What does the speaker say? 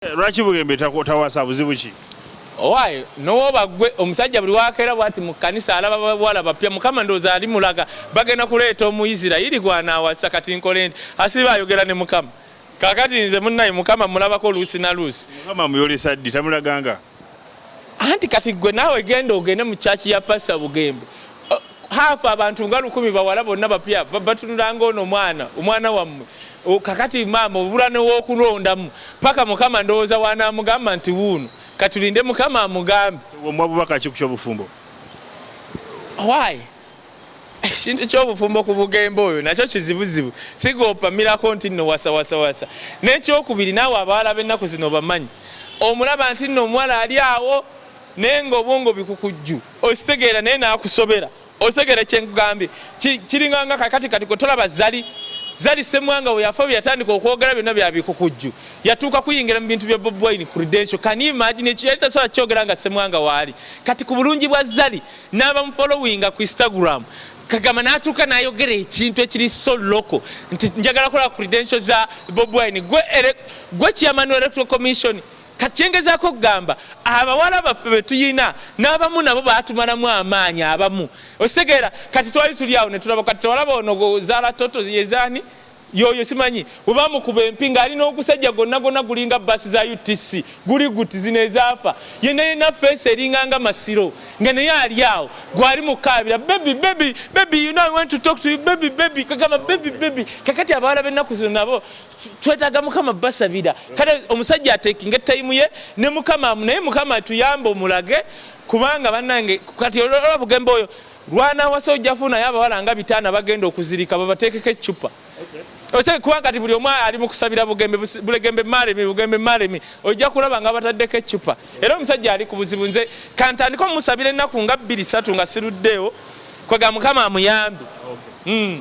Eh, lwaki bugembe tawasa buzibu ki owaye nowoba gwe omusajja buli wakeera bwati mu kanisa alaba bawala bapya mukama ndowooza ali mulaga bagenda kuleeta omuisirairi gwanaawasa kati nkole nti asiba ayogera ne mukama kakati nze munnaye mukama mulabako luusi na luusi mukama muyolesa ddi tamulaganga anti kati gwe naawe genda ogende mu kyaki ya pasa bugembe haafu abantu nga lukumi bawala bonna bapya batunulanga ono mwana omwana wammwe kakati maama obula newokulondamu paka mukama ndowooza wanamugamba nti wuuno katulinde mukama amugambe omwabubaka kikukyo obufumbo why ekintu ky'obufumbo ku bugembe oyo nakyo kizibuzibu siga opamirako nti nno wasawasawasa n'ekyokubiri naawe abaala b'ennaku zino obamanyi omulaba nti nno omuwala ali awo naye nga obwongo bikukujju okitegeera naye naakusobera otegere kyenkugambye kiringanga kakati kati kwetolaba zali zali semwanga weyafa bweyatandika okwogera byonna byabikukujju yatuuka kuyingira mu bintu bya bobwine credential kani imagine ekyo yali tasobola kyogera nga semwanga waali kati ku bulungi bwa zali n'abamufolowinga ku instagram kagamba n'atuuka n'ayogera ekintu ekiri so local nti njagala kola credential za bob wine gwe chairman wa electoral commission kati kyengezaako okugamba abawala baffe betuyina n'abamu nabo batumalamu amaanyi abamu okitegeera kati twali tuli awo netulaba kati tewalaba ono zaala toto yezaani yoyo simanyi webamukuba empi nga alina ogusajja gonna gonna gulinga basi za utc guli guti zino ezaafa yena yena fesi eringa nga masiro nga naye ali awo gwali mukaabira bebi bebi bebi you know i want to talk to you bebi bebi kagamba bebi bebi kakati abawala bennaku zino nabo twetaaga mukama basabira kale omusajja atekinga etayimu ye ne mukama naye mukama tuyamba omulage kubanga banange kati olwa bugembe oyo Lwanawasa ojja funayo abawala nga bitaana bagenda okuzirika babateekeko eccupa kuba kati buli omu ali mukusabira bugembe bulegembe malemi bugembe malemi ojja kulaba nga bataddeko eccupa era omusajja ali ku buzibu nze kantandika omusabira ennaku nga bbiri satu nga siruddeewo kwega mukama amuyambi hmm.